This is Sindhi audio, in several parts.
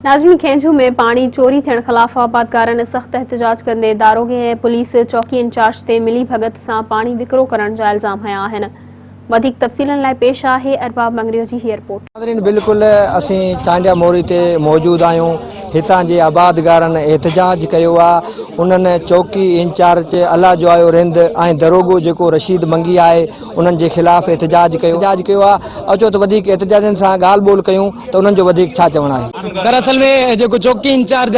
ناظمي کينجهو ۾ پاڻي چوري ٿيڻ خلاف آبادگارن سخت احتجاج ڪندي داروغي ۽ پوليس چوڪي انچارج تي ملي ڀڳت سان پاڻي وڪرو ڪرڻ جا الزام هنيا آهن وڌيڪ تفصيلن لاء پيش آهي ارباب مڱريو جي هي رپورٽ. ناظرين بلڪل اسين چانڊيا موري تي موجود آهيون هتان جي آبادگارن احتجاج ڪيو آ انهن چوڪي انچارج الله جوايو رند ۽ دروغو جيڪو رشيد منگي آهي انهن جي خلاف احتجاج ڪيو احتجاج ڪيو آ او چو ته وڌيڪ احتجاجين سان ڳالهه ٻولهه ڪيون ته انهن جو وڌيڪ ڇا چوڻ آهي. سر اصل ۾ جيڪو چوڪي انچارج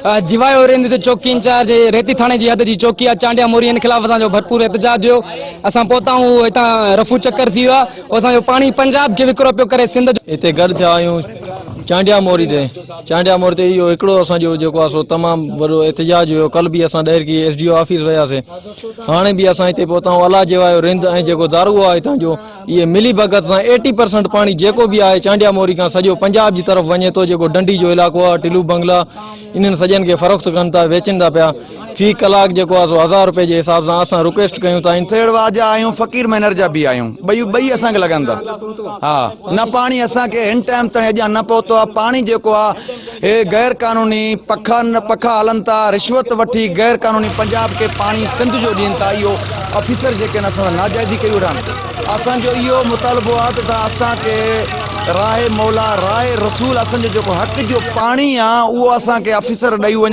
آ جوايو رند تي چوڪي انچارج ريتي ٿاڻي جي حد جي چوڪي آ چانڊيا موري ان خلاف اسان جو ڀرپور احتجاج هيو اسان پهتا هون هتان رفو چڪر ٿي ويو آ او اسان جو پاڻي پنجاب کي وڪرو پيو ڪري سنڌ جو هتي گڏ ٿيا آهيون چانڊيا موري تي چانڊيا موري تي اهو هڪڙو اسان جو جيڪو آ سو تمام وڏو احتجاج هيو ڪل به اسان Daharki S D O office وياسي هاڻي به اسان هتي پهتا آهيون الاجي واهيو رند ۽ جيڪو دارو آهي هتان جو اهي ملي ڀڳت سان ايٽي پرسنٽ پاڻي جيڪو به آهي چانڊيا موري کان سڄو پنجاب جي طرف وڃي ٿو جيڪو ڊنڊي جو علائقو آهي ٽلو بنگلا انهن سڄن کي فروخت ڪن ٿا ويچن ٿا پيا في ڪلاڪ جيڪو آهي سو هزار رپئي جي حساب سان اسان رڪويسٽ ڪيون ٿا سيڙوا جا آهيون فقير مينر جا به آهيون ٻئي ٻئي اسان کي لڳن ٿا ها نه پاڻي اسان کي هن ٽائم تائين اڄان نه پهتو آهي پاڻي جيڪو آهي هي غير قانوني پکا پکا هلن ٿا رشوت وٺي غير قانوني پنجاب کي پاڻي سنڌ جو ڏين ٿا اهو آفيسر جيڪي آهن اسان سان ناجائزي ڪئي ويٺا آهن اسان جو اهو مطالبو آهي ته تان اسان کي راهي مولا راهي رسول اسان جو جيڪو حق جو پاڻي آهي اهو اسان کي آفيسر ڏئي وڃن